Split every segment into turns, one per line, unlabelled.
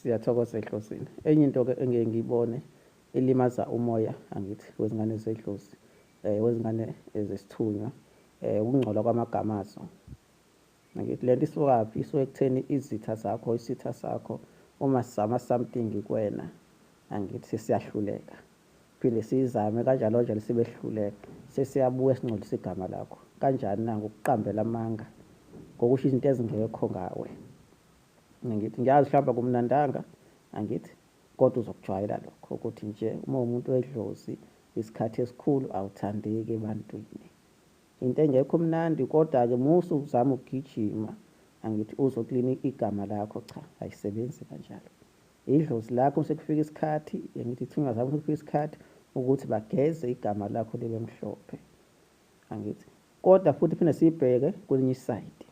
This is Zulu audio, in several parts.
Siyathokoza ehlosini. Enye into ke engeke ngiyibone elimaza umoya angithi wezingane zedlozi eh wezingane ezesithunywa eh ukungcola kwamagama azo. Angithi lento isukaphi isuke ekutheni izitha zakho isitha sakho uma sizama something kwena angithi siyahluleka phinde sizame kanjalo kanjalo sibehluleka sesiyabuya singcolisa igama lakho kanjani na ngokuqambela amanga ngokusho izinto ezingekho ngawe ngithi ngiyazi mhlawumbe kumnandanga angithi kodwa uzokujwayela lokho ukuthi nje uma umuntu wedlozi isikhathi esikhulu awuthandeki ebantwini into engekho mnandi kodwa-ke musa uzama ukugijima angithi uzoklina igama lakho cha ayisebenzi kanjalo idlozi lakho sekufika isikhathi ngithi ithunga zabo sekufika isikhathi ukuthi bageze igama lakho libe mhlophe angithi kodwa futhi phinde siyibheke kwelinye isayidi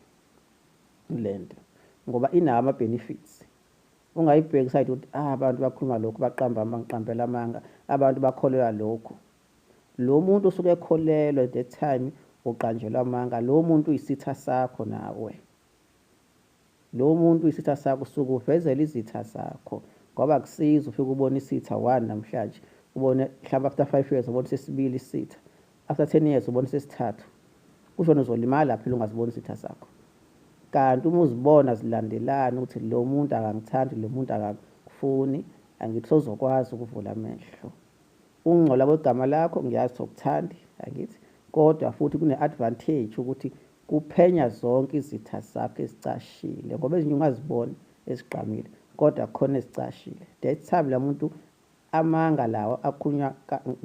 lento ngoba inawo ama benefits ungayibheki side ukuthi ah abantu bakhuluma lokho baqamba bangiqambela amanga abantu bakholelwa lokho lo muntu usuke ekholelwa at that time uqanjelwa amanga lo muntu uyisitha sakho nawe Lo muntu uyisitha sakho usuke uvezela izitha zakho ngoba akusiza ufike ubona isitha one namhlanje ubone mhlawumbe after five years ubone sesibili isitha after ten years ubone sesithathu kusho uzolimala phela ungaziboni isitha sakho kanti uma uzibona zilandelana ukuthi lo muntu akangithandi lo muntu akakufuni angithi sozokwazi ukuvula amehlo ukungcola kwegama lakho ngiyazi sokuthandi angithi kodwa futhi kune-advantage ukuthi Kuphenya zonke izitha zakho ezicashile ngoba ezinye ungaziboni ezigqamile kodwa khona ezicashile. That time lamuntu amanga lawa akhunywa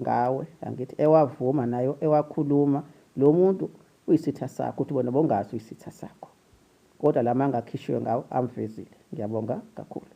ngawe angithi ewavuma nayo ewakhuluma lo muntu uyisitha sakho uthi bona bongazi uyisitha sakho kodwa lamanga akhishiwe ngawo amvezile. Ngiyabonga kakhulu.